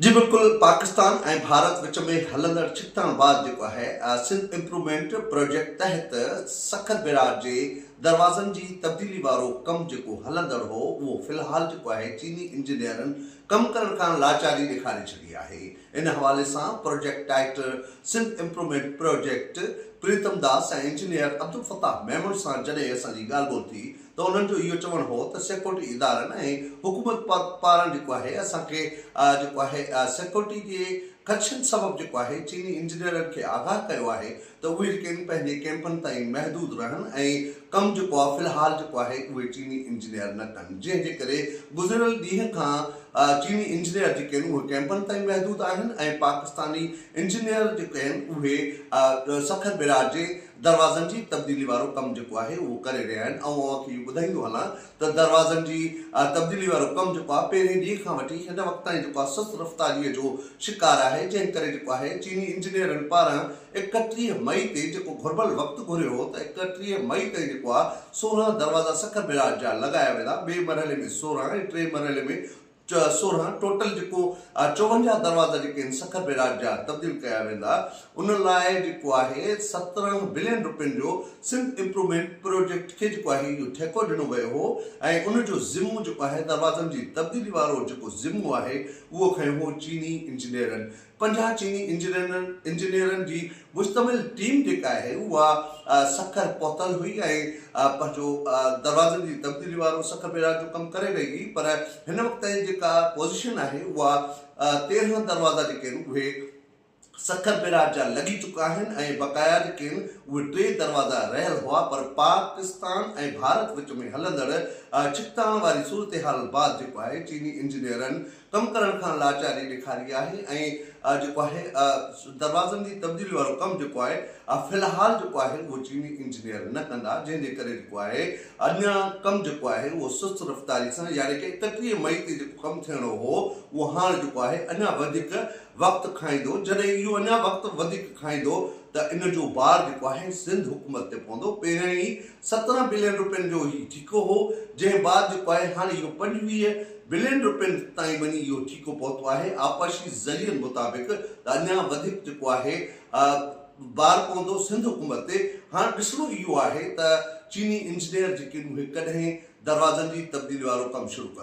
جي بلڪل پاڪستان ۽ ڀارت وچ ۾ هلندڙ ڇڪتاڻ بعد جيڪو آهي سنڌ امپرومينٽ پروجيڪٽ تحت سکر بيراج جي دروازن جي تبديلي وارو ڪم جيڪو هلندڙ هو اهو في الحال جيڪو آهي چيني انجنيئرن ڪم ڪرڻ کان لاچاري ڏيکاري ڇڏي آهي ان حوالي سان project director Sindh improvement project Pritam Das ۽ engineer Abdulfattah Memon سان جڏهن اسان جي ڳالهه ٻولهه ٿي ته انهن جو اهو چوڻ هو ته سيڪيورٽي ادارن ۽ حڪومت پاران جيڪو آهي اسان کي جيڪو آهي سيڪيورٽي جي خدشن سبب جيڪو آهي چيني انجنيئرن کي آگاهه ڪيو آهي ته اهي جيڪي آهن پنهنجي ڪئمپن تائين محدود رهن ۽ ڪم جيڪو آهي في الحال جيڪو آهي اهي چيني انجنيئر نه ڪن جنهن جي ڪري گذريل ڏينهن کان چيني انجنيئر جيڪي آهن اهي ڪئمپن تائين محدود آهن ۽ پاڪستاني انجنيئر جيڪي آهن اهي سکر بئراج جي دروازن جي تبديلي وارو ڪم جيڪو آهي اهو ڪري رهيا آهن ۽ اوهان کي اهو ٻڌائيندو هلان ته دروازن جي تبديلي وارو ڪم جيڪو آهي پهرين ڏينهن کان وٺي هن وقت تائين جيڪو آهي سست رفتاري جو شڪار آهي جنهن ڪري جيڪو آهي چيني انجنيئرن پاران ايڪٽيهه مئي تي جيڪو گهربل وقت گهريو هو ته ايڪٽيهه مئي تائين جيڪو آهي سورهن دروازا سکر بيراج جا لڳايا ويندا ٻئي مرحلي ۾ سورهن ۽ ٽئين مرحلي ۾ سورهن ٽوٽل جيڪو آهي چوونجاهه دروازا جيڪي آهن سکر بئراج جا تبديل ڪيا ويندا ان لاء جيڪو آهي سترهن بلين روپين جو سنڌ امپرومينٽ پروجيڪٽ کي جيڪو آهي اهو ٺيڪو ڏنو ويو هو ۽ ان جو ذمو جيڪو آهي دروازن جي تبديلي وارو جيڪو ذمو آهي اهو کنيو هو چيني انجنيئرن پنجاهه چيني انجنيئرن جي مشتمل ٽيم جيڪا آهي اها سکر پهتل هئي ۽ پنهنجو دروازن جي تبديلي وارو سکر بيراج جو ڪم ڪري رهي هئي پر هن وقت تائين جيڪا پوزيشن آهي اها تيرهن دروازا جيڪي آهن اهي سکر بيراج جا لڳي چڪا آهن ۽ بقايا جيڪي آهن اهي ٽي دروازا رهيل هئا پر پاڪستان ۽ ڀارت وچ ۾ هلندڙ ڇڪتاڻ واري صورتحال بعد جيڪو آهي چيني انجنيئرن ڪم ڪرڻ کان لاچاري ڏيکاري آهي ۽ جيڪو آهي دروازن جي تبديلي وارو ڪم جيڪو آهي في الحال جيڪو آهي اهو چيني انجنيئر نه ڪندا جنهن جي ڪري جيڪو آهي اڃا ڪم جيڪو آهي اهو سست رفتاري سان يعني ڪي اڪٽيهه مئي تي جيڪو ڪم ٿيڻو هو اهو هاڻ جيڪو آهي اڃا وڌيڪ وقت کائيندو جڏهن اهو اڃا وقت وڌيڪ کائيندو ته ان جو بار جيڪو آهي سنڌ حڪومت تي پوندو پهريائين ئي سترهن بلين روپين جو هي ٺيڪو هو، جنهن بعد جيڪو آهي هاڻي اهو پنجويهه بلين روپين تائين وڃي اهو ٺيڪو پهتو آهي، آبپاشي ذريعن مطابق ته اڃا وڌيڪ جيڪو آهي بار پوندو سنڌ حڪومت تي، هاڻ ڏسڻو اهو آهي ته چيني انجنيئر جيڪي اهي ڪڏهن دروازن جي تبديلي وارو ڪم شروع ڪندا.